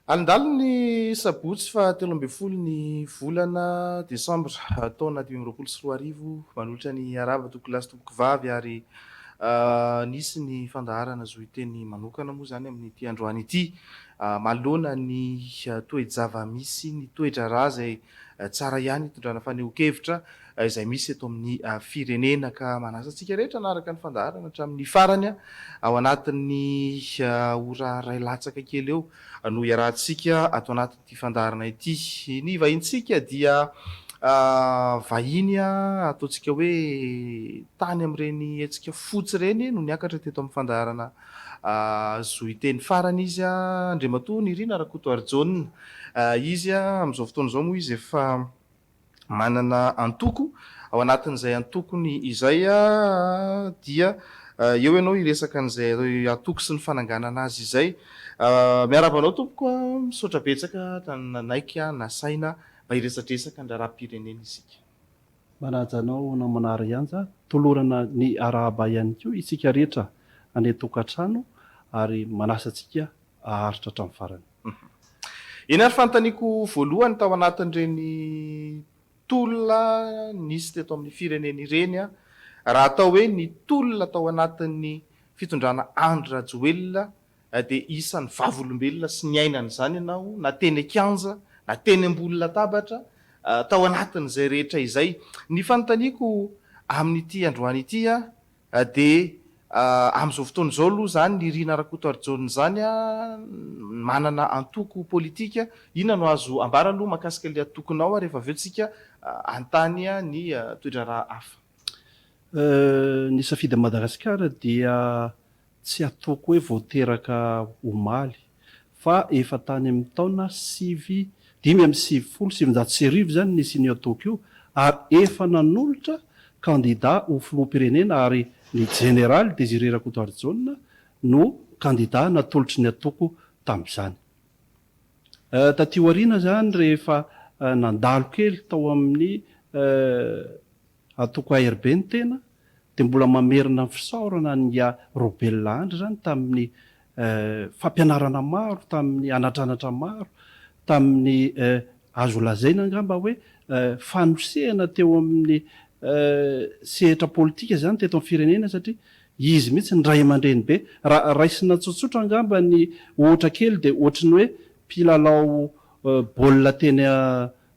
Alindaliny ny sabotsy faha telo ambin'ny folo ny volana desambra taona dimy amby roapolo sy roa arivo manolotra ny harava tompokolahy sy tompokivavy ary Nisy ny fandaharana zohiteny manokana moa izany amin'ity androany ity manoloana ny toe-java-misy, ny toe-draharaha izay tsara ihany hitondrana fanehoan-kevitra izay misy eto amin'ny firenena ka manasa antsika rehetra hanaraka ny fandaharana hatramin'ny farany ao anatin'ny ora iray latsaka kely eo no iarahantsika ato anatin'ny ity fandaharana ity. Ny vahintsika dia vahiny ataontsika hoe tany amin'ireny hetsika fotsy ireny no niakatra teto amin'ny fandaharana Zohiteny farany izy, Andriamatoa Nirina Rakotoarijaona. Izy amin'izao fotoana izao moa izy efa Manana antoko, ao anatin'izay antokony izay dia eo ianao hiresaka an'izay antoko sy ny fananganana azy izay. Miarahaba anao tompoko a! Misaotra betsaka nanaiky nasaina mba hiresadresaka ny raharaham-pirenena isika. Manaja anao namana Arianja, tolorana ny arahaba ihany koa isika rehetra any an-tokantrano ary manasa antsika haharitra hatramin'ny farany. Eny ary fanontaniako voalohany tao anatin'ireny tolona nisy teto amin'ny firenena ireny raha atao hoe ny tolona tao anatin'ny fitondrana Andry Rajoelina dia isan'ny vavolombelona sy niaina an'izany ianao na teny an-kianja na teny ambony latabatra tao anatin'izay rehetra izay. Ny fanontaniako amin'ity androany ity Dia amin'izao fotoana izao aloha izany Nirina Rakotoarijaona izany manana antoko politika, inona no azo ambara aloha mahakasika ilay antokonao ary rehefa avy eo tsika hanontany ny toe-draharaha hafa. Ny Safidy Madagasikara dia Tsy ataoko hoe vao teraka omaly fa efa tany amin'ny taona sivy, dimy amby sivifolo sy sivinjato sy arivo izany nisy an'io ataoko io ary efa nanolotra kandida ho filoham-pirenena ary ny Jeneraly Désiré Rakotoarijaona no kandida natolotry ny ataoko tamin'izany. Taty aoriana izany rehefa nandalo kely tao amin'ny. Antoko ARB ny tena dia mbola mamerina ny fisaorana an'i Yah Robella Andry izany tamin'ny fampianarana maro, tamin'ny anatranatra maro, tamin'ny azo lazaina angamba hoe fanosehana teo amin'ny sehatra politika izany teto amin'ny firenena satria izy mihitsy ny ray aman-dreny be. Raha raisina tsotsotra angamba ny ohatra kely dia ohatry ny hoe mpilalao baolina teny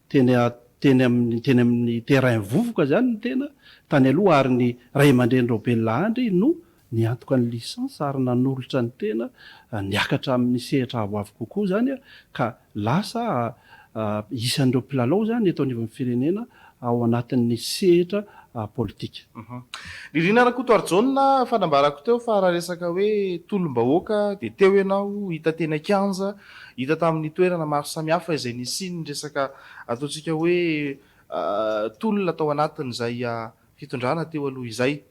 Teny a, teny amin'ny, teny amin'ny terrain vovoka izany ny tena, tany aloha, ary ny ray aman-drenin'ireo Bella Andry no niantoka ny licence ary nanolotra ny tena niakatra amin'ny sehatra avoavo kokoa izany ka lasa isan'ireo mpilalao izany eto anivon'ny firenena ao anatin'ny sehatra politika. Nirina Rakotoarijaona, efa nambarako teo fa raha resaka hoe tolom-bahoaka dia teo ianao hita teny an-kianja Hita tamin'ny toerana maro samihafa izay nisian'ny resaka ataontsika hoe tolona tao anatin'izay fitondrana teo aloha izay.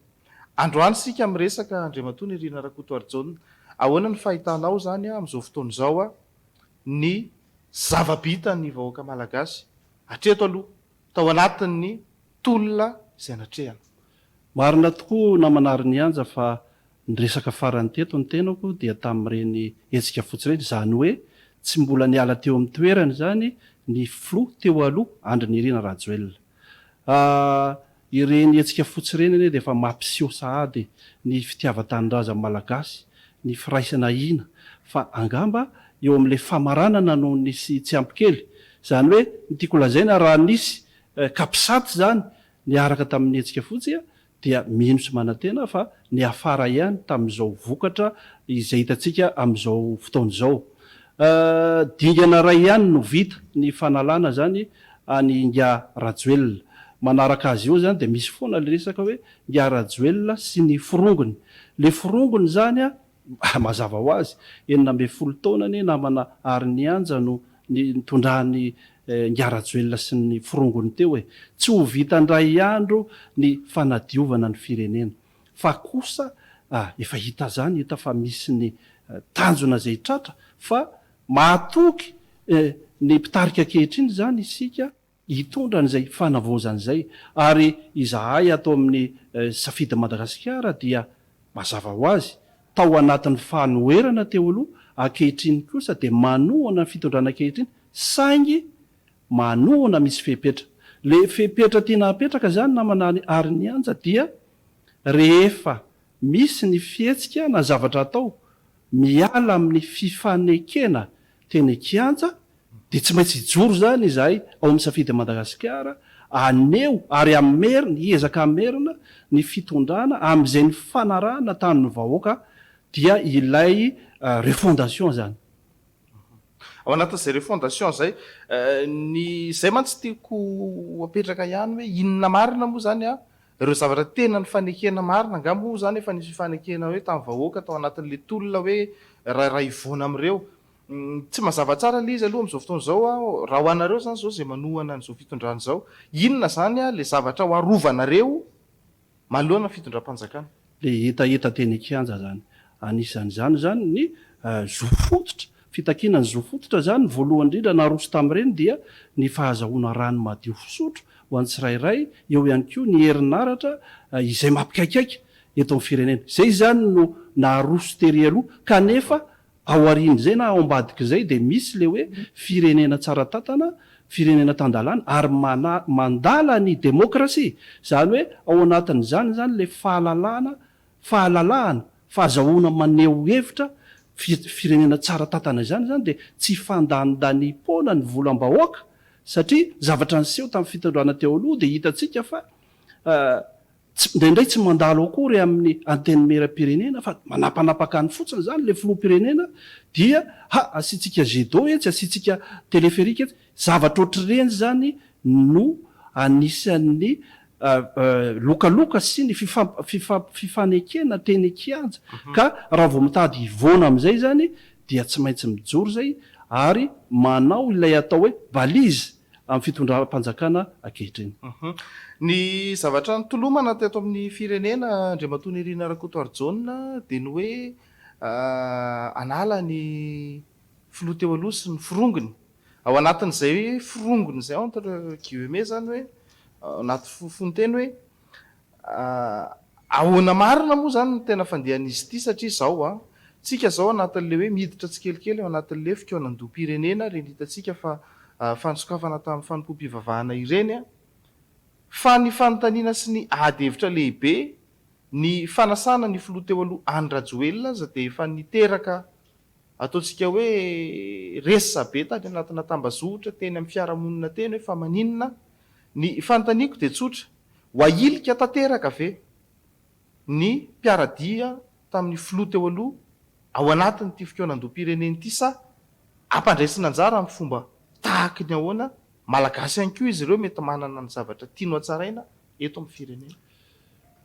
Androany isika miresaka Andriamatoa Nirina Rakotoarijaona, ahoana ny fahitanao izany amin'izao fotoana izao ny zava-bitan'ny vahoaka malagasy hatreto aloha? tao anatin'ny tolona izay natrehana. Marina tokoa namana ry Nianja fa niresaka farany teto ny tenako dia tamin'ireny hetsika fotsy ireny, izany hoe tsy mbola niala teo amin'ny toerany izany ny filoha teo aloha Andry Nirina Rajoelina. Ahh ireny hetsika fotsy ireny anie dia efa mampiseho sahady ny fitiavan-tanindrazan'ny Malagasy, ny firaisana hina fa angamba eo amin'ilay famaranana no nisy tsy ampy kely Izany hoe ny tiako lazaina raha nisy capsat izany niaraka tamin'ny hetsika fotsy dia mino sy manantena aho fa niafara ihany tamin'izao vokatra izay hitantsika amin'izao fotoana izao. Dingana iray ihany no vita, ny fanalana izany an'i Ingahy Rajoelina. Manaraka azy eo izany dia misy foana ilay resaka hoe Ingahy Rajoelina sy ny forongony. Ilay forongony izany Mazava ho azy, enina ambin'ny folo taona anie namana ary ny anja no nitondran'i Ingahy Rajoelina sy ny forongony teo e! Tsy ho vita indray andro ny fanadiovana ny firenena. Fa kosa efa hita zany hita fa misy ny tanjona zay tratra fa mahatoky ny mpitarika ankehitriny zany isika. hitondra an'izay fanavaozana izay ary izahay ato amin'ny Safidy Madagasikara dia mazava ho azy tao anatin'ny fanoherana teo aloha, ankehitriny kosa dia manohana ny fitondrana ankehitriny saingy manohana misy fepetra. Ilay fepetra tiana hapetraka izany namana Arinianja dia rehefa misy ny fihetsika na zavatra atao miala amin'ny fifanekena teny an-kianja Dia tsy maintsy hijoro izany izahay ao amin'ny Safidy Madagasikara, haneho ary hamerina, hiezaka hamerina ny fitondrana amin'izay nifanarahana tamin'ny vahoaka, dia ilay refondation izany. Ao anatin'izay refondation izay, ny izay mantsy tiako ho apetraka ihany hoe inona marina moa izany an, ireo zavatra tena nifanekena marina, angaha moa izany efa nisy fifanekena hoe tamin'ny vahoaka tao anatin'ilay tolona hoe raha hivoana amin'ireo Tsy mazava tsara ilay izy aloha amin'izao fotoana izao an, raha ho anareo izany izao izay manohana an'izao fitondrana izao, inona izany ilay zavatra ho arovanareo manoloana ny fitondram-panjakana? Ilay hetaheta teny an-kianja izany, anisan'izany izany ny zo fototra, fitakiana ny zo fototra izany, voalohany indrindra naroso tamin'ireny dia ny fahazahoana rano madio fisotro ho an'ny tsirairay, eo ihany koa ny herinaratra izay mampikaikaika eto amin'ny firenena. Izay izany no naroso tery aloha kanefa Ao aorian'izay na ao ambadik'izay dia misy ilay hoe firenena tsara tantana, firenena tan-dalàna ary mandala ny demokrasia. Izany hoe ao anatin'izany izany ilay fahalalahana, fahalalahana, fahazahoana maneho hevitra, firenena tsara tantana izany izany dia tsy fandanindaniam-poana ny volam-bahoaka satria zavatra niseho tamin'ny fitondrana teo aloha dia hitantsika fa Tsy, indraindray tsy mandalo akory amin'ny antenimieram-pirenena fa manapanapaka any fotsiny izany ilay filoham-pirenena dia, ha, asiantsika jet d'eau etsy, asiantsika téléphérique etsy. Zavatra ohatr'ireny izany no anisan'ny lokaloka sy ny fifamp, fifanekena teny an-kianja. Ka raha vao mitady hivoana amin'izay izany dia tsy maintsy mijoro izay ary manao ilay atao hoe balise amin'ny fitondram-panjakana ankehitriny. Ny zavatra nitolomana teto amin'ny firenena Andriamatoa Nirina Rakotoarijaona dia ny hoe hanala ny filoha teo aloha sy ny forongony. Ao anatin'izay forongony izay entre guillemets izany hoe anaty fofonteny hoe Ahoana marina moa izany no tena fandehan'izy ity satria izao an, tsika izao anatin'ilay hoe miditra tsikelikely ao anatin'ilay fikaonandoham-pirenena ireny hitantsika fa fanosokafana tamin'ny fanompoam-pivavahana ireny an, fa ny fanontaniana sy ny ady hevitra lehibe ny fanasana ny filoha teo aloha Andry Rajoelina aza dia efa niteraka Ataontsika hoe resabe tany anatina tambazotra teny amin'ny fiarahamonina teny hoe fa maninona? Ny fanontaniako dia tsotra, ho ahilika tanteraka ve ny mpiara-dia tamin'ny filoha teo aloha ao anatin'ity fikaonandoham-pirenena ity sa ampandraisina anjara amin'ny fomba tahaka ny ahoana? Malagasy ihany koa izy ireo mety manana ny zavatra tiany hotsaraina eto amin'ny firenena.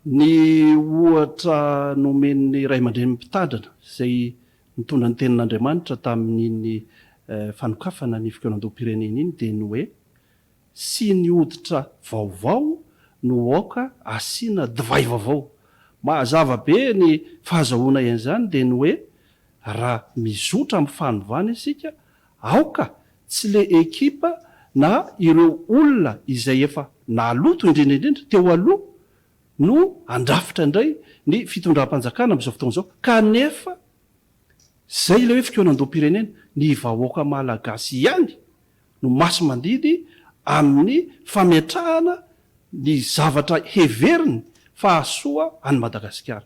Ny ohatra nomen'ny ray aman-drenin'ny mpitandrina izay nitondra ny tenin'Andriamanitra tamin'iny fanokafana ny fikaonandoham-pirenena iny dia ny hoe, siny hoditra vaovao no aoka asiana divay vaovao. Mahazava be ny fahazahoana an'izany dia ny hoe, raha mizotra amin'ny fanovana isika Aoka tsy le ekipa na ireo olona izay efa naloto indrindra indrindra teo aloha no handrafitra indray ny fitondram-panjakana amin'izao fotoana izao kanefa izay ilay hoe fikaonandoham-pirenena, ny vahoaka malagasy ihany no masi-mandidy amin'ny fametrahana ny zavatra heveriny fa hahasoa an'i Madagasikara.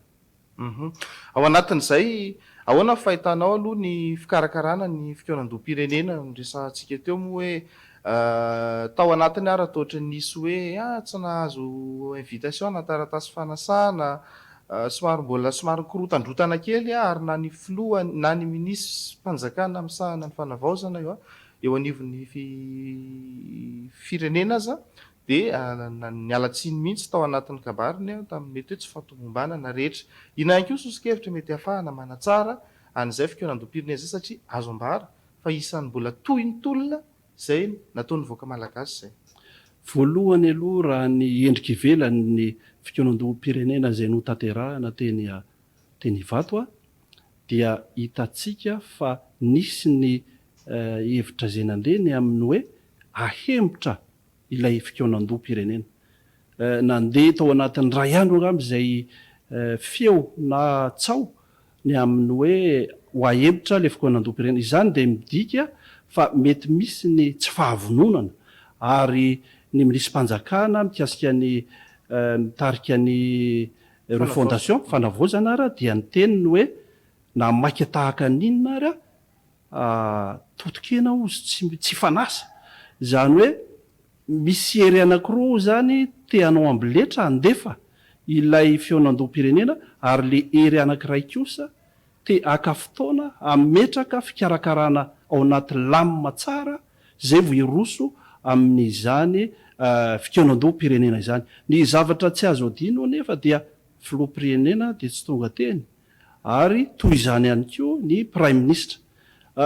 Uhum. Ao anatin'izay, ahoana ny fahitanao aloha ny fikarakarana ny fikaonandoham-pirenena? Noresahantsika teo moa hoe tao anatiny ary raha toa nisy hoe tsy nahazo invitation na taratasy fanasana, somary mbola somary nikorontandrotana kely ary na ny filoha na ny minisitrim-panjakana misahana ny fanavaozana eo anivon'ny firenena aza dia niala tsiny mihitsy tao anatin'ny kabariny aho tamin'ny mety hoe tsy fahatomombanana rehetra. Inona ihany koa soso-kevitra mety hahafahana manatsara an'izay fikaonandoham-pirenena izay satria azo ambara fa isan'ny mbola tohin'ny tolona izay nataon'ny vahoaka malagasy izay. Voalohany aloha raha ny endrika ivelany ny fikaonandoham-pirenena izay notanterahina teny teny Ivato dia hitantsika fa nisy ny hevitra izay nandeha ny amin'ny hoe ahemotra ilay fikaonandoham-pirenena. Nandeha tao anatin'ny iray andro angamba izay feo na tsaho ny amin'ny hoe ho ahempotra ilay fikaonandoham-pirenena. Izany dia midika fa mety misy ny tsy fahavononana ary ny minisipanjakana mikasika ny mitarika ny refondation, fanavaozana, ary dia niteny ny hoe na maika tahaka ny inona ary aho, Totokena ozy tsy fanasa. Izany hoe misy hery anakiroa ozy zany te hanao ambiletra handefa ilay fihaonandoham-pirenena ary le hery anakiray kosa te haka fotoana hametraka fikarakarana ao anaty lamina tsara zay vao hiroso amin'izany fikaonandoham-pirenena izany. Ny zavatra tsy azo adino anefa dia filoham-pirenena dia tsy tonga teny ary toy izany ihany koa ny Praiminisitra.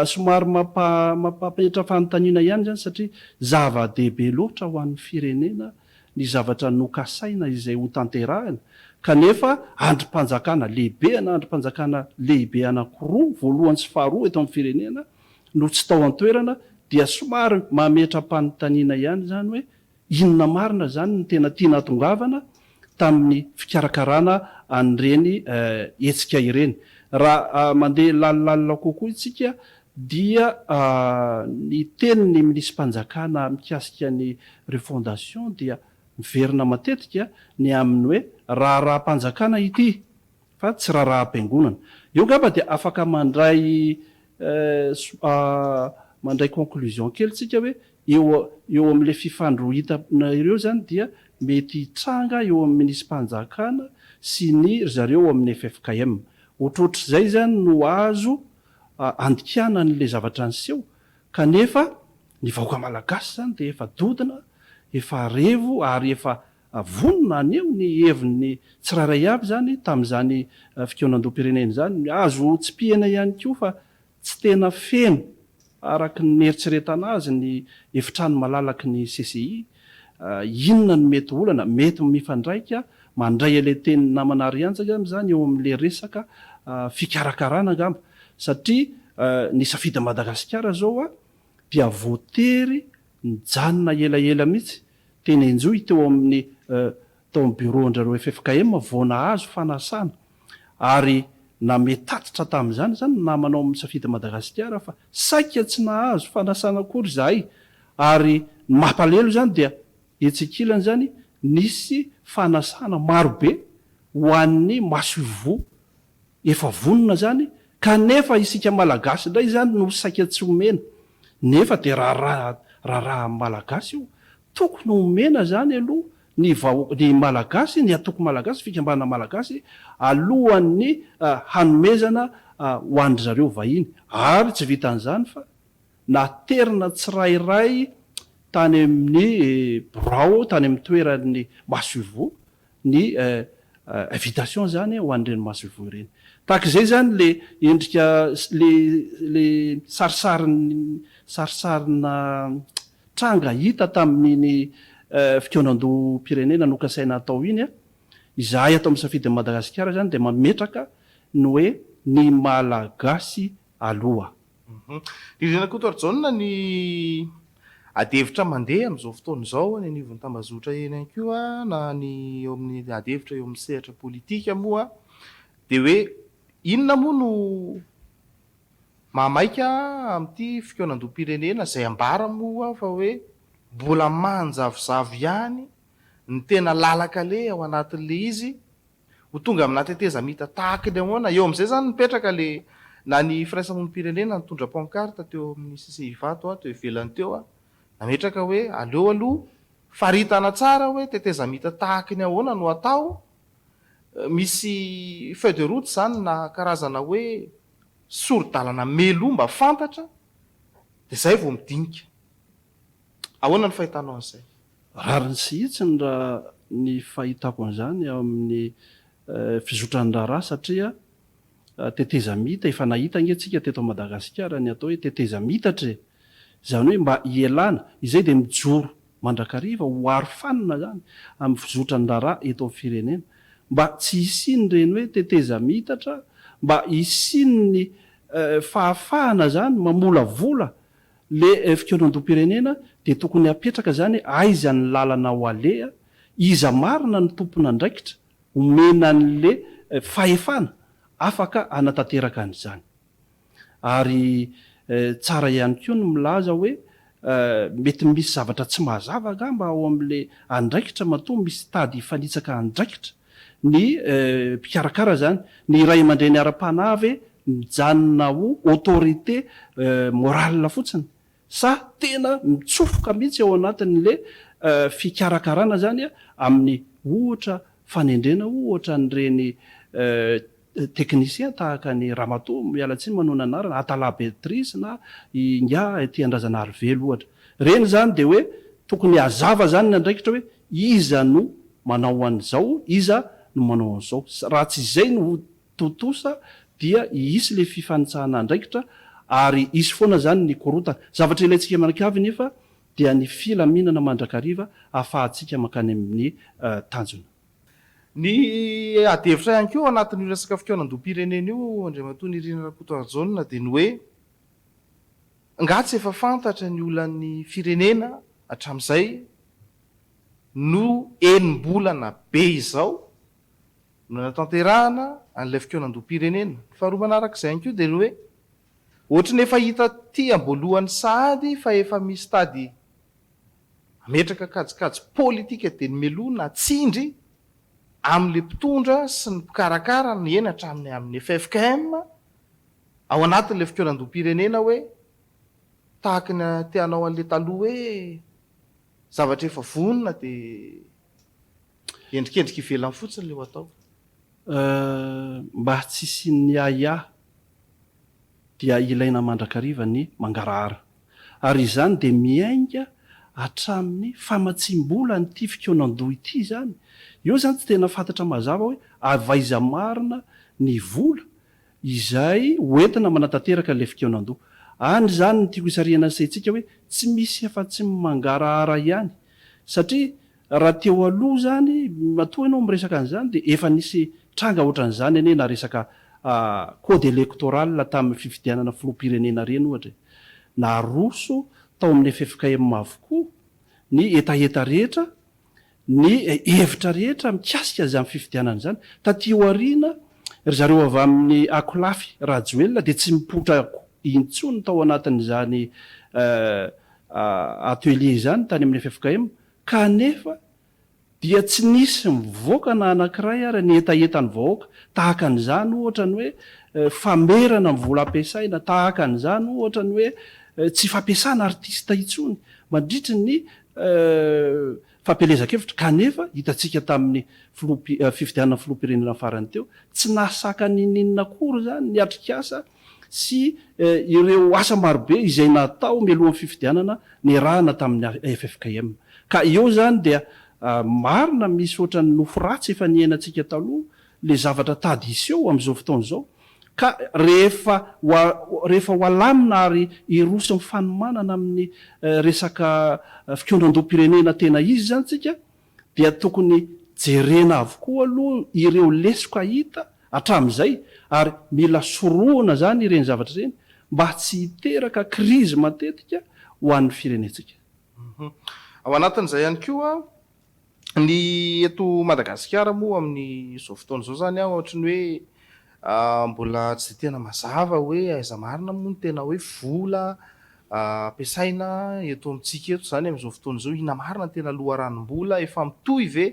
Somary mampa-mampipetra fanontaniana ihany izany satria zava-dehibe loatra ho an'ny firenena ny zavatra nokasaina izay hotanterahina kanefa andrim-panjakana lehibe ana andrim-panjakana lehibe anankiroa, voalohany sy faharoa eto amin'ny firenena no tsy tao an-toerana dia somary mametra-panontaniana ihany izany hoe Inona marina izany no tena tiana hatongavana tamin'ny fikarakarana an'ireny hetsika ireny? Raha mandeha lalilalina kokoa isika dia ny tenin'ny minisi-panjakana mikasika ny refondation dia miverina matetika ny amin'ny hoe raharaham-panjakana ity. fa tsy raharaham-piangonana. Eo angamba dia afaka mandray mandray conclusion kely tsika hoe eo eo amin'ilay fifandrohitana ireo izany dia mety hitranga eo amin'ny minisi-panjakana sy ny ry zareo ao amin'ny ffkm. Ohatrohatr'izay izany no azo andikana an'ilay zavatra niseho kanefa ny vahoaka malagasy izany dia efa dodona, efa revo ary efa Vonona haneho ny heviny tsirairay avy izany tamin'izany fikaonandoham-pirenena izany. Azo tsipihina ihany koa fa tsy tena feno araka ny nieritreretana azy ny efitrano malalaky ny CCI. Inona no mety olana? Mety mifandraika mandray ilay tenin'ny namana Arianja angamba izany eo amin'ilay resaka fikarakarana angamba satria ny Safidy Madagasikara izao dia voatery nijanona elaela mihitsy Teny Enjoy teo amin'ny tao amin'ny Bureau-ndrareo ffkm vao nahazo fanasana ary name tatitra tamin'izany izany ny namana ao amin'ny Safidy Madagasikara fa saika tsy nahazo fanasana akory izahay ary ny mampalelo izany dia etsy ankilany izany nisy fanasana marobe ho an'ny masoivoho Efa vonona zany kanefa isika malagasy indray izany no saika tsy omena nefa dia raharaha raharahan'ny malagasy io tokony omena zany aloha ny vahoaka ny malagasy ny atoko malagasy fikambanana malagasy alohan'ny hanomezana ho andry zareo vahiny ary tsy vitan'izany fa naterina tsirairay tany amin'ny birao tany amin'ny toeran'ny masoivoho ny invitation izany ho an'ireny masoivoho ireny. Tahaka izay izany ilay endrika, ilay sarisarina tranga hita tamin'iny fikaonandoham-pirenena nokasaina hatao iny. Izahay ato amin'ny Safidin'i Madagasikara izany dia mametraka ny hoe ny Malagasy aloha. Didy Rakotoarijaona ny ady hevitra mandeha amin'izao fotoana izao any anivon'ny tambazotra eny ihany koa na ny eo amin'ny ady hevitra eo amin'ny sehatra politika moa dia hoe inona moa no mahamaika amin'ity fikaonandoham-pirenena izay ambara moa fa hoe mbola manjavozavo ihany ny tena lalan-kaleha ao anatin'ilay izy Ho tonga amina tetezamita tahaka ny ahoana? Eo amin'izay izany mipetraka le na ny firaisamonim-pirenena nitondra pancarte teo amin'ny sisiny Ivato aho teo ivelany teo aho nametraka hoe aleo aloha faritana tsara hoe tetezamita tahaka ny ahoana no atao? Misy feuille de route izany na karazana hoe sori-dalana meloa mba fantatra dia izay vao midinika. Ahoana ny fahitanao an'izay? Rariny sy hitsiny raha ny fahitako an'izany eo amin'ny fizotran-draharaha satria tetezamita, efa nahita ange tsika teto Madagasikara ny atao hoe tetezamiitatra e! izany hoe mba hielana, izay dia mijoro mandrakariva ho arofanina izany amin'ny fizotran-draharaha eto amin'ny firenena, mba tsy hisian'ireny hoe tetezamiitatra, mba hisian'ny fahafahana izany mamolavola Le fikaonandohampirenena dia tokony hapetraka izany aiza ny lalana ho aleha, iza marina no tompon'andraikitra omena an'le fahefana afaka hanatanteraka an'izany. Ary tsara ihany koa ny milaza hoe mety misy zavatra tsy mazava angamba ao amin'le andraikitra matoa misy tady hifanitsaka andraikitra. ny mpikarakara izany, ny ray aman-dreny ara-panahy ve mijanona ho autorité morale fotsiny sa tena mitsofoka mihitsy ao anatin'le fikarakarana izany amin'ny ohatra fanendrena ohatra an'ireny Teknisien tahaka an'i Ramatoa, miala tsiny manohy ny anarana, Atala Béatrice na i Ingahy Tiandrazanarivelo ohatra. Ireny izany dia hoe tokony hazava izany ny andraikitra hoe iza no manao an'izao, iza no manao an'izao. Raha tsy izay no ho tontosa dia hisy ilay fifanitsahana andraikitra ary hisy foana izany ny korontana. Zavatra ilaintsika mianakavy nefa dia ny filaminana mandrakariva ahafahantsika mankany amin'ny tanjona. Ny ady hevitra ihany koa ao anatin'io resaka fikaonandoham-pirenena io, Andriamatoa Nirina Rakotoarijaona, dia ny hoe, angaha tsy efa fantatra ny olan'ny firenena hatramin'izay no enim-bolana be izao no nanatanterahana an'ilay fikaonandoham-pirenena? Ny faharoa manarak'izay ihany koa dia ny hoe, ohatry ny efa hita aty am-boalohan'ny sahady fa efa misy tady Hametraka kajikajy politika dia ny meloa na tsindry amin'ilay mpitondra sy ny mpikarakara no eny hatramin'ny amin'ny ffkm ao anatin'ilay fikaonan-doham-pirenena hoe tahaka ny te hanao an'ilay taloha hoe zavatra efa vonona dia endrikendrika ivelany fotsiny ilay ho atao. Euh, mba tsy hisian'ny ahiahy dia ilaina mandrakariva ny mangarahara. Ary izany dia miainga hatramin'ny famatsiam-bola an'ity fikaonandoha ity izany. Eo izany tsy tena fantatra mazava hoe avy aiza marina ny vola izay hoentina manatanteraka ilay fikaonandoha. Any izany no tiako hisarihana ny saintsika hoe tsy misy afa-tsy ny mangarahara ihany satria Raha teo aloha izany, matoa ianao miresaka an'izany dia efa nisy tranga ohatran'izany anie na resaka code electoral tamin'ny fifidianana filoham-pirenena ireny ohatra e! Naroso tao amin'ny ffkm avokoa ny hetaheta rehetra, ny hevitra rehetra mikasika izany fifidianana izany. Taty aoriana, ry zareo avy amin'ny Akolafy Rajoelina dia tsy nipoitra intsony tao anatin'izany atelier izany tany amin'ny ffkm Kanefa dia tsy nisy mivoaka na anankiray ary ny hetahetan'ny vahoaka tahaka an'izany ohatra ny hoe famerana ny vola ampiasaina, tahaka an'izany ohatra ny hoe tsy fampiasana artista intsony mandritry ny fampielezan-kevitra kanefa hitantsika tamin'ny fifidianana filoham-pirenena farany teo tsy nahasaka n'inon'inona akory izany ny atrikasa sy ireo asa marobe izay natao mialohan'ny fifidianana niarahana tamin'ny ffkm. Ka eo izany dia marina misy ohatran'ny nofy ratsy efa niainantsika taloha le zavatra tady hiseho amin'izao fotoana izao ka rehefa rehefa ho alamina ary hiroso amin'ny fanomanana amin'ny resaka fikaonandoham-pirenena tena izy izany tsika dia tokony jerena avokoa aloha ireo lesoka hita hatramin'izay ary mila sorohina izany ireny zavatra ireny mba tsy hiteraka krizy matetika ho an'ny firenentsika. Ao anatin'izay ihany koa ny eto Madagasikara moa amin'izao fotoana izao izany ohatry ny hoe mbola tsy dia tena mazava hoe aiza marina moa ny tena hoe vola ampiasaina eto amintsika eto izany amin'izao fotoana izao, inona marina no tena loharanom-bola, efa mitohy ve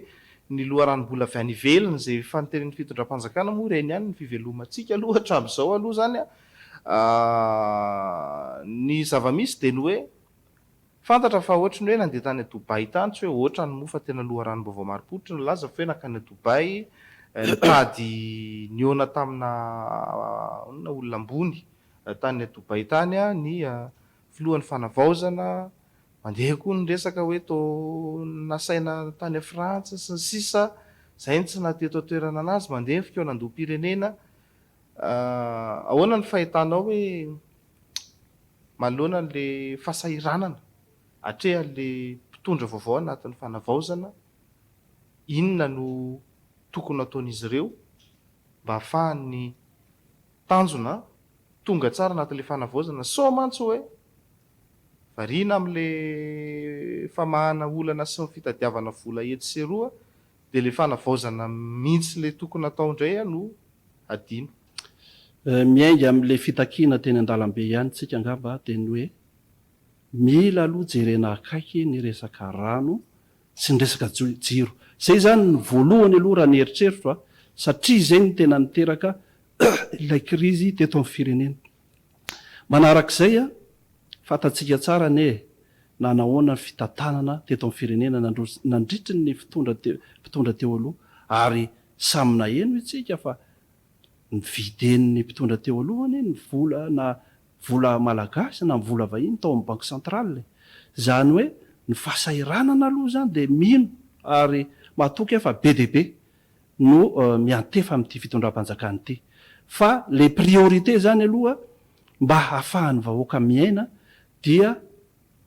ny loharanom-bola avy any ivelany izay efa noteren'ny fitondram-panjakana moa ireny ihany no fivelomantsika aloha hatramin'izao aloha izany an! ny zava-misy dia ny hoe fantatra fa ohatry ny hoe nandeha tany Dubai tany, tsy hoe ohatrany moa fa tena loharanom-baovao marim-pototra no nilaza fa hoe nankany Dubai nitady nihaona tamina olona ambony Tany Dubai tany ny filohan'ny fanavaozana, mandeha koa ny resaka hoe toa nasaina tany Frantsa sy ny sisa, izay no tsy naha teto an-toerana an'azy, mandeha ny fikaonandoham-pirenena, ahoana ny fahitanao hoe manoloana an'ilay fahasahiranana atrehan'ilay mpitondra vaovao anatin'ny fanavaozana, inona no tokony hataon'izy ireo mba hahafahan'ny Tanjona, tonga tsara anatin'ilay fanavaozana sao mantsy hoe variana amin'ilay famahana olana sy ny fitadiavana vola etsy sy eroa dia ilay fanavaozana mihitsy ilay tokony atao indray no hadino. Miainga amin'ilay fitakiana teny an-dalambe ihany tsika angamba dia ny hoe mila aloha jerena akaiky ny resaka rano sy ny resaka jiro. Izay izany no voalohany aloha raha ny eritreritro satria izay no tena niteraka ilay krizy teto amin'ny firenena. Manaraka izay, fantatsika tsara anie na nahoana ny fitantanana teto amin'ny firenena nandritry ny mpitondra teo aloha ary samy naheno isika fa novidian'ny mpitondra teo aloha anie ny vola na vola malagasy na vola vahiny tao amin'ny banque centrale e! Izany hoe ny fahasahiranana aloha izany dia mino ary matoky aho fa be dia be no miantefa amin'ity fitondram-panjakana ity fa ilay priorité zany aloha mba hahafahan'ny vahoaka miaina dia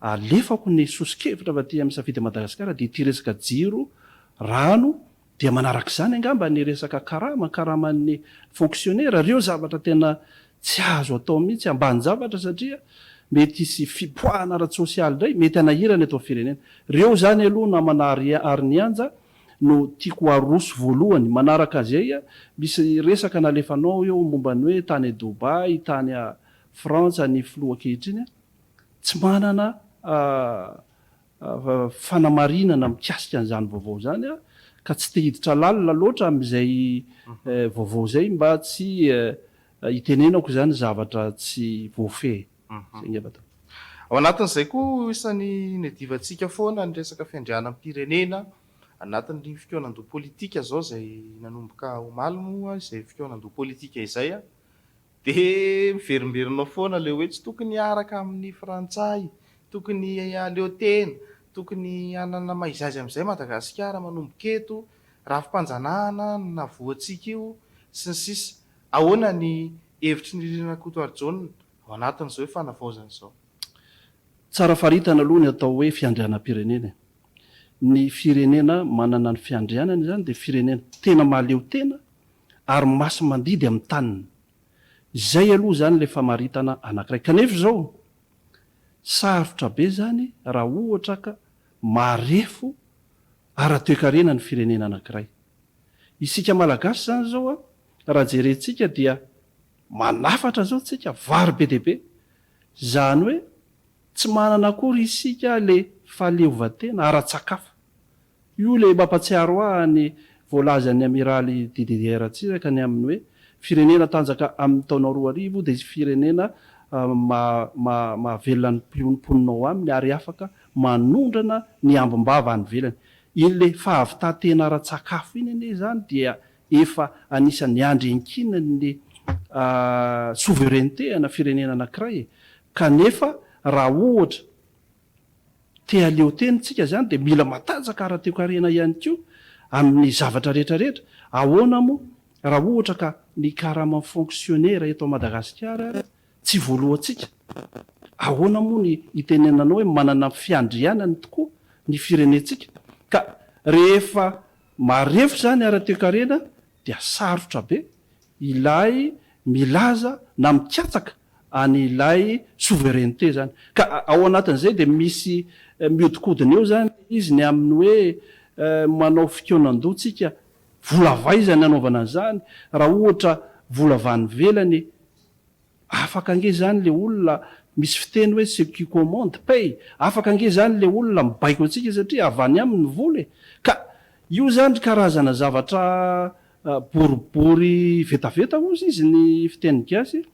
alefako ny soso-kevitra fa aty amin'ny Safidy Madagasikara dia ity resaka jiro, rano dia manarak'izany angamba ny resaka karama, karaman'ny fonksionera, ireo zavatra tena tsy azo atao mihitsy, ambanin-javatra satria mety hisy fipoahana ara-tsosialy indray mety hanahirana eto amin'ny firenena. Ireo izany aloha namana ary nianja no tiako aroso voalohany, manaraka zay a, misy resaka nalefanao ao eo momba ny hoe tany Dubai, tany a Frantsa ny filoha ankehitriny a, tsy manana a fanamarinana mikasika an'izany vaovao zany aho ka tsy te hiditra lalina loatra amin'izay vaovao zay mba tsy hitenenako zany zavatra tsy voafehy. Ao anatin'izay koa ho isan'ny niadivantsika foana ny resaka fiandrianam-pirenena anatin'ny fikaonandoha politika izao izay nanomboka omaly moa izay fikaonandoha politika izay dia miverimberina foana ilay hoe tsy tokony hiaraka amin'ny frantsay, tokony haleo tena, tokony hanana maiza aiza amin'izay Madagasikara manomboka eto, rafi-panjanahana no navoantsika io sy ny sisa Ahoana ny hevitry ny Ririna Rakotoarijaona ao anatin'izao io fanavaozana izao? Tsara faritana aloha ny atao hoe fiandrianam-pirenena e! Ny firenena manana ny fiandrianany izany dia firenena tena mahaleo tena ary masi-mandidy amin'ny taniny. Izay aloha izany ilay famaritana anankiray. Kanefa izao, sarotra be izany raha ohatra ka marefo ara-toekarena ny firenena anankiray. Isika Malagasy izany izao raha jerentsika dia manafatra zao tsika vary be dia be izany hoe tsy manana akory isika le fahaleovantena ara-tsakafo io le mampatsiaro ahy ny voalazan'ny amiraly Didier Ratsiraka ny amin'ny hoe firenena tanjaka amin'ny taona roa arivo dia firenena mahavelona ny mponina ao aminy ary afaka manondrana ny ambim-bava any ivelany iny le fahavitantena ara-tsakafo iny anie izany dia Efa anisan'ny andry iankinan'ny souveraineté ana firenena anankiray e! Kanefa raha ohatra te haleo tena isika izany dia mila matanjaka ara-toekarena ihany koa amin'ny zavatra rehetra rehetra. Ahoana moa raha ohatra ka ny karaman'ny fonksionera eto Madagasikara ary tsy voaloantsika? Ahoana moa ny itenenanao hoe manana fiandrianany tokoa ny firenentsika ka rehefa Marefo izany ara-toekarena dia sarotra be ilay milaza na mikatsaka an' ilay souveraineté izany. Ka ao anatin' izay dia misy mihodinkodina eo izany izy ny amin' ny hoe manao fikaonan-doha tsika, vola avy aiza ny anaovana izany raha ohatra vola avy any ivelany e? Afaka ange zany le olona misy fiteny hoe ce qui commande paie, afaka ange zany le olona mibaiko antsika satria avy any aminy ny vola e! Ka io zany ry karazana zavatra boribory vetaveta ozy izy ny fiteny gasy,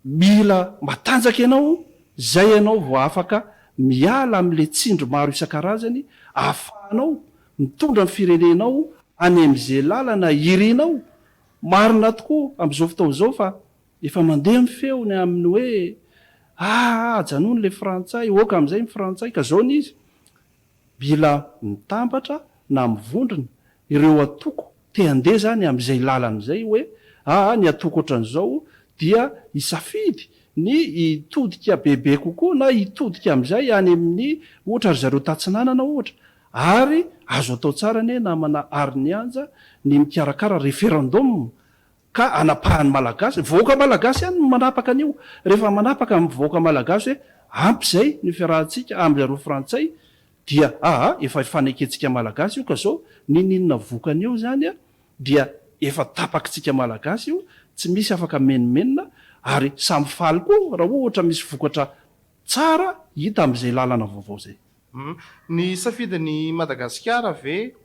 mila matanjaka ianao zay ianao vao afaka miala amle tsindry maro isan-karazany ahafahanao mitondra ny firenenao any amze lalana irinao Marina tokoa amin'izao fotoana izao fa efa mandeha ny feo ny amin'ny hoe aa ajanony ilay frantsay, oaka amin'izay ny frantsay, ka zao ny izy, bila mitambatra na mivondrona ireo atoko te handeha izany amin'izay lalana izay hoe aa ny atoko ohatran'izao dia hisafidy ny hitodika bebe kokoa na hitodika amin'izay any amin'ny ohatra ry zareo tatsinanana ohatra Ary azo atao tsara anie namana Arnianja ny mikarakara referendum ka anapahan'ny Malagasy, ny vahoaka Malagasy ihany no manapaka an'io, rehefa manapaka ny vahoaka Malagasy hoe ampy izay ny fiarahantsika amindry zareo Frantsay dia aa efa hifanekentsika Malagasy io ka zao ninininona vokany eo izany a dia efa tapakintsika Malagasy io tsy misy afaka menomenona ary samy faly koa raha ohatra misy vokatra tsara hita amin'izay lalana vaovao izay. Humm. Ny safidin'i Madagasikara ve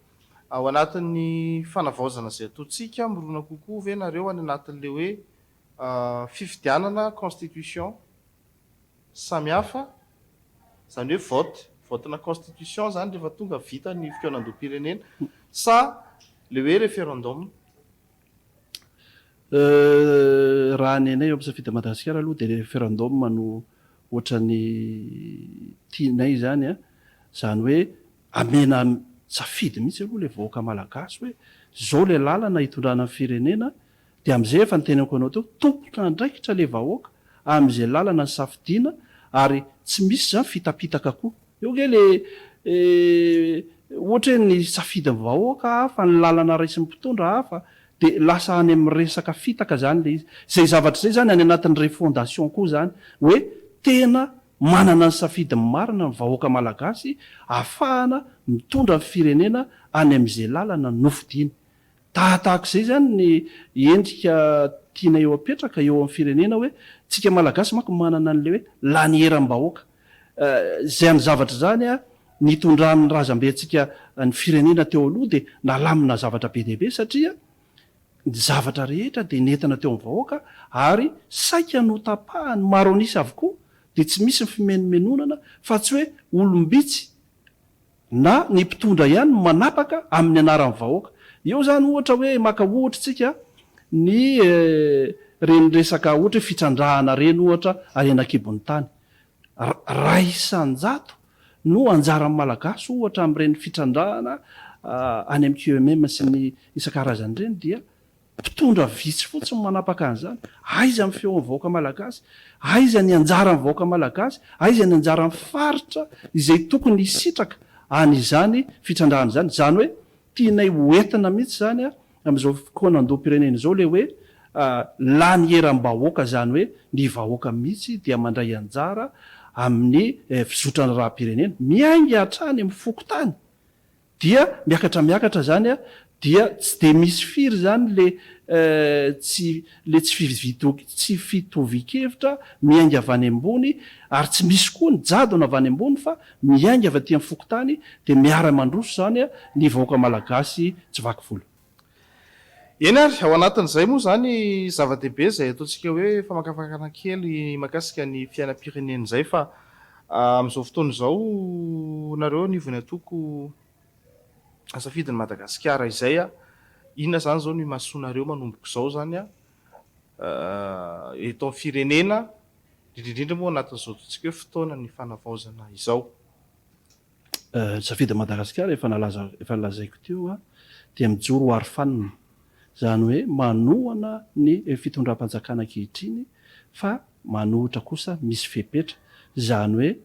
ao anatin'ny fanavaozana izay ataontsika mirona kokoa ve nareo any anatin'ilay hoe fifidianana, constitution, samihafa, izany hoe vote, vote-na constitution izany rehefa tonga vita ny fikaonandoham-pirenena sa ilay hoe referendum? Raha ny anay eo amin'ny Safidy Madagasikara aloha dia referendum no ohatran'ny tianay izany an! Izany hoe amena safidy mihitsy aloha ilay vahoaka malagasy hoe izao ilay lalana hitondrana ny firenena dia amin'izay efa ny teneniko anao teo tompon'andraikitra ilay vahoaka amin'izay lalana nisafidiana ary tsy misy izany fitapitaka koa. Eo ange le ohatra hoe ny safidin'ny vahoaka hafa, ny lalana raisin'ny mpitondra hafa, de lasa any amin'ny resaka fitaka zany le izy. Zay zavatra zay zany any anatin'ny refondation koa zany hoe tena manana ny safidiny marina ny vahoaka malagasy afahana mitondra ny firenena any am'izay lalana nofidiny. Tahatahak'izay zany ny endrika tianay ho apetraka eo amin'ny firenena hoe tsika malagasy manko manana an'le hoe laniera am-bahoaka. Izany zavatra izany nitondran'ny razambentsika ny firenena teo aloha dia nalamina zavatra be dia be satria ny zavatra rehetra dia nentina teo amin'ny vahoaka ary saika notapahan'ny maro an'isa avokoa dia tsy misy ny fimenomenonana fa tsy hoe olom-bitsy na ny mpitondra ihany no manapaka amin'ny anaran'ny vahoaka. Eo izany ohatra hoe maka ohatra isika ny reny resaka ohatra hoe fitrandrahana ireny ohatra any anakibon'ny tany. Ray isan-jato no anjaran'ny Malagasy ohatra amin'ireny fitrandrahana any amin'ny QMM sy ny isan-karazany ireny dia Mpitondra vitsy fotsiny no manapaka an'izany. Aiza ny feon'ny vahoaka malagasy? Aiza ny anjaran'ny vahoaka malagasy? Aiza ny anjaran'ny faritra izay tokony hisitraka an'izany fitrandrahana izany? Izany hoe tianay ho entina mihitsy izany amin'izao fokoan'andohampirenena izao ilay hoe lany eram-bahoaka izany hoe ny vahoaka mihitsy dia mandray anjara amin'ny fizotran'ny raha-pirenena. Miainga hatrany amin'ny fokontany Dia miakatra miakatra zany a, dia tsy dia misy firy zany le tsy le tsy fividoki tsy fitovian-kevitra miainga avy any ambony, ary tsy misy koa ny jadona avy any ambony fa miainga avy aty amin'ny fokontany, dia miara-mandroso zany a ny vahoaka malagasy tsy vaky volo. Eny ary, ao anatin'izay moa izany zava-dehibe izay ataontsika hoe famakafakana kely mahakasika ny fiainam-pirenena izay fa amin'izao fotoana izao nareo anivon'ny antoko Safidy ny Madagasikara izay an, inona izany izao no imasoanareo manomboka izao izany an, eto amin'ny firenena indrindra indrindra moa anatin'izao ataontsika hoe fotoanan'ny fanavaozana izao. Safidy Madagasikara efa nalaza efa nolazaiko teo a, dia mijoro ho aro fanina, izany hoe manohana ny fitondram-panjakana ankehitriny fa manohitra kosa misy fepetra, izany hoe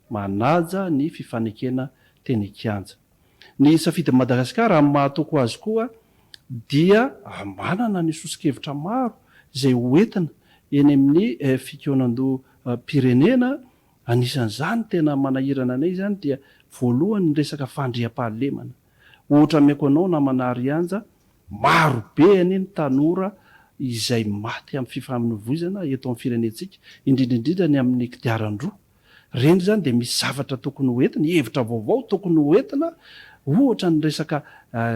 manaja ny fifanekena teny an-kianja. Ny Safidy Madagasikara amin'ny maha toko azy koa dia manana ny soso-kevitra maro izay ho entina eny amin'ny fikaonandoham-pirenena Anisan'izany tena manahirana anay izany dia voalohany ny resaka fandriampahalemana. Ohatra ameko anao namana Arianja, maro be anie ny tanora izay maty amin'ny fifamoivoizana eto amin'ny firenentsika, indrindra indrindra ny amin'ny kodiaran-droa. Ireny izany dia misy zavatra tokony ho entina, hevitra vaovao tokony ho entina, ohatra ny resaka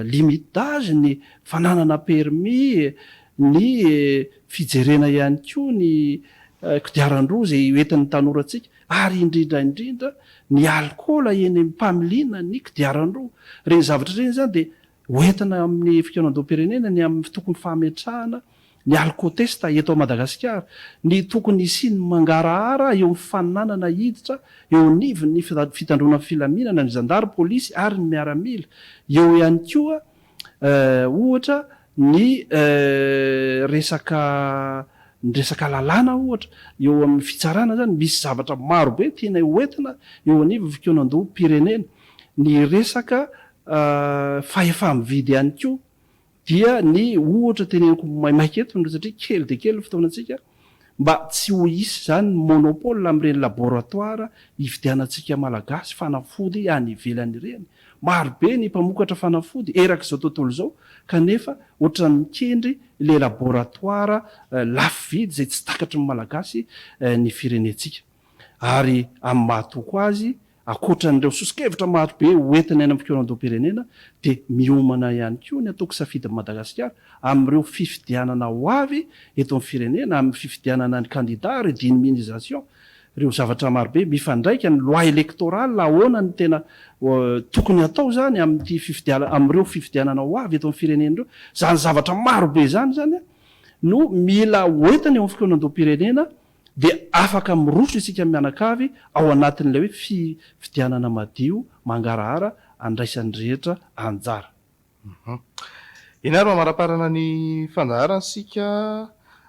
limite d'âge, ny fananana permis, ny fijerena ihany koa ny kodiaran-droa izay ho entin'ny tanorantsika ary indrindra indrindra ny alikaola eny amin'ny familiana ny kodiaran-droa. Ireny zavatra ireny izany dia ho entina amin'ny fikaonandoham-pirenena ny amin'ny tokony fametrahana ny alkotesta eto Madagasikara, ny tokony hisian'ny mangarahara eo amin'ny fananana hiditra eo anivon'ny fitandroana ny filaminana ny zandary, polisy ary ny miaramila, eo ihany koa ohatra, ny resaka ny resaka lalàna ohatra, eo amin'ny fitsarana izany misy zavatra maro be tianay ho entina eo anivon'ny fikaonandoham-pirenena. Ny resaka fahefa-mividy ihany koa dia ny ohatra teneniko maimaika eto, satria kely dia kely ny fotoanantsika, mba tsy ho hisy izany ny monopole amin'ireny laboratoire hividianantsika Malagasy fanafody any ivelany ireny. Maro be ny mpamokatra fanafody erak'izao tontolo izao kanefa ohatran'ny mikendry ilay laboratoire lafo vidy izay tsy takatry ny Malagasy ny firenentsika. Ary amin'ny maha-toko azy Ankoatra an'ireo soso-kevitra marobe hoentina eny amin'ny fikaonan-doham-pirenena dia miomana ihany koa ny antoko Safidy Madagasikara amin'ireo fifidianana ho avy eto amin'ny firenena amin'ny fifidianana ny kandida, redynmisation, ireo zavatra marobe mifandraika, ny loi électorale, ahoana no tena tokony hatao izany amin'ity fifidianana, amin'ireo fifidianana ho avy eto amin'ny firenena ireo. Izany zavatra marobe izany izany no mila hoentina eo amin'ny fikaonan-doham-pirenena dia afaka miroso isika mianakavy ao anatin'ilay hoe fifidianana madio, mangarahara andraisan'ny rehetra anjara. Ianaro mamaraparana ny fandaharana isika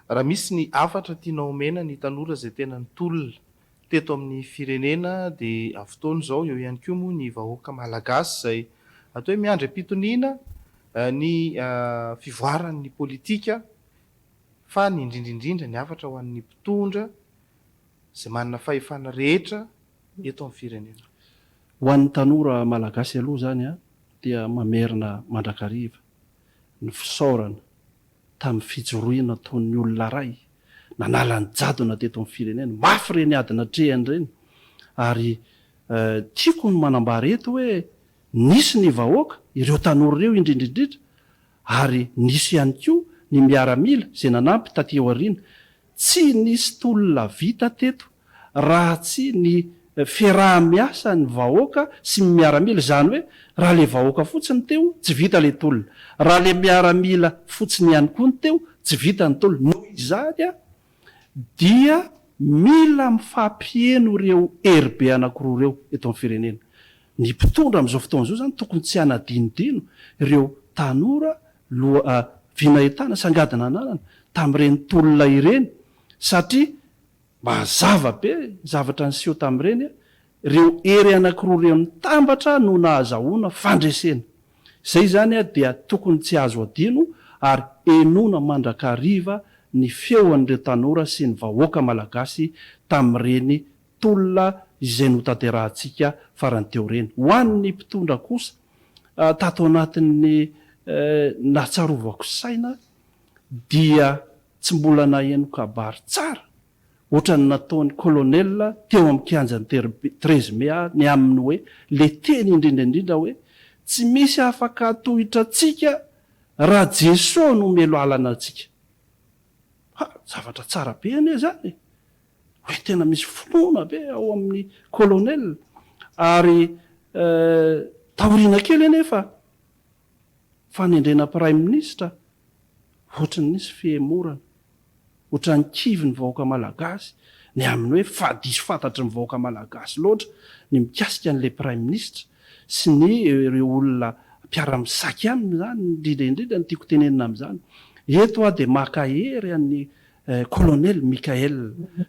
raha misy ny hafatra tianao omena ny tanora izay tena nitolona teto amin'ny firenena dia amin'ny fotoana izao eo ihany koa moa ny vahoaka malagasy izay atao hoe miandry am-pitoniana ny fivoaran'ny politika fa ny indrindra indrindra ny hafatra ho an'ny mpitondra izay manana fahefana rehetra eto amin'ny firenena. Ho an'ny tanora malagasy aloha izany dia mamerina mandrakariva ny fisaorana tamin'ny fijoroana toy ny olona ray nanala ny jadona teto amin'ny firenena. Mafy ireny ady natrehany ireny ary tiako ny manambara eto hoe nisy ny vahoaka, ireo tanora ireo indrindra indrindra Ary nisy ihany koa ny miaramila izay nanampy taty aoriana. Tsy nisy tolona vita teto raha tsy ny fiaraha-miasa ny vahoaka sy ny miaramila. Izany hoe raha ilay vahoaka fotsiny ny teo, tsy vita ilay tolona. Raha ilay miaramila fotsiny ihany koa ny teo, tsy vita ny tolona. Noho izany, dia mila mifampiheno ireo heribe anankiroa ireo eto amin'ny firenena. Ny mpitondra amin'izao fotoana izao izany tokony tsy hanadinodino ireo tanora loha vina entana sy angadina ananana tamin'ireny tolona ireny satria mazava be ny zavatra niseho tamin'ireny Ireo hery anankiroa ireo nitambatra no nahazahoana fandresena. Izay izany dia tokony tsy azo adino ary henoina mandrakariva ny feon'ireo tanora sy ny vahoaka malagasy tamin'ireny tolona izay notanterahantsika farany teo ireny. Ho an'ny mpitondra kosa, tato anatin'ny nahatsarovako saina dia tsy mbola naheno kabary tsara Ohatran'ny nataon'i Colonel teo amin'ny kianjan'i Terrby treize mai aho ny aminy hoe le teny indrindra indrindra hoe tsy misy afaka hatohitra antsika raha Jeso no omelo alana antsika. Ha! Zavatra tsara be anie izany e! Hoe tena misy finoana be ao amin'i Colonel ary eh, taoriana kely anefa fanendrena praiminisitra ohatry ny nisy fihemorana, ohatry ny kivy ny vahoaka malagasy ny amin'ny hoe fa diso fantatry ny vahoaka malagasy loatra ny mikasika an'ilay praiminisitra sy ny ireo olona mpiara-misaky aminy izany, indrindra indrindra ny tiako tenenina amin'izany eto aho dia maka hery an'i kolonely Mickaël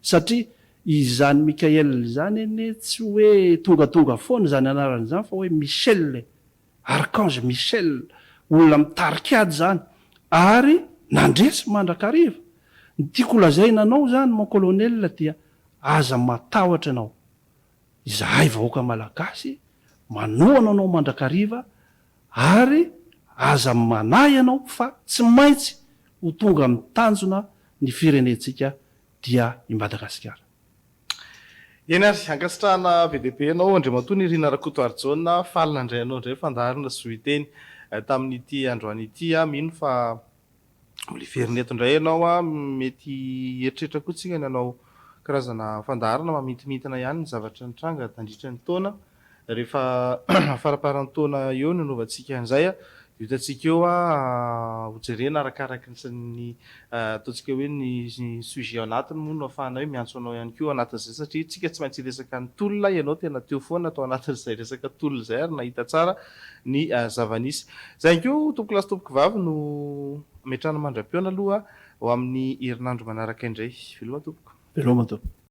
satria izany Mickaël izany anie tsy hoe tongatonga foana izany anarana izany fa hoe Michel e! Archange Michel, olona mitarika ady izany, ary nandresy mandrakariva. Ny tiako holazaina anao izany mon colonel dia aza matahotra ianao. Izahay vahoaka Malagasy manohana anao mandrakariva ary aza manahy ianao fa tsy maintsy ho tonga amin'ny tanjona ny firenentsika dia i Madagasikara. Eny ary, ankasitrahana be dia be anao Andriamatoa Nirina Rakotoarijaona, faly nandray anao indray fandaharana Zohiteny tamin'ity androany ity. Aho mino fa mbola hiverina eto indray ianao, mety hieritreritra koa isika ny hanao karazana fandaharana mamintimintina ihany ny zavatra nitranga tandritra ny taona. Rehefa faramparan'ny taona eo no anaovantsika an'izay dia hitantsika eo ho jerena arakaraky ny ataontsika hoe ny sujet ao anatiny moa no ahafahana hoe miantso anao ihany koa ao anatin'izay satria isika tsy maintsy hiresaka ny tolona, ianao tena teo foana tao anatin'izay resaka tolona izay ary nahita tsara ny zava-nisy. Izay ihany koa tompokolahy sy tompokovavy no hametrahana mandra-pihaona aloha ho amin'ny herinandro manaraka indray. Veloma tompoko. Veloma tompoko.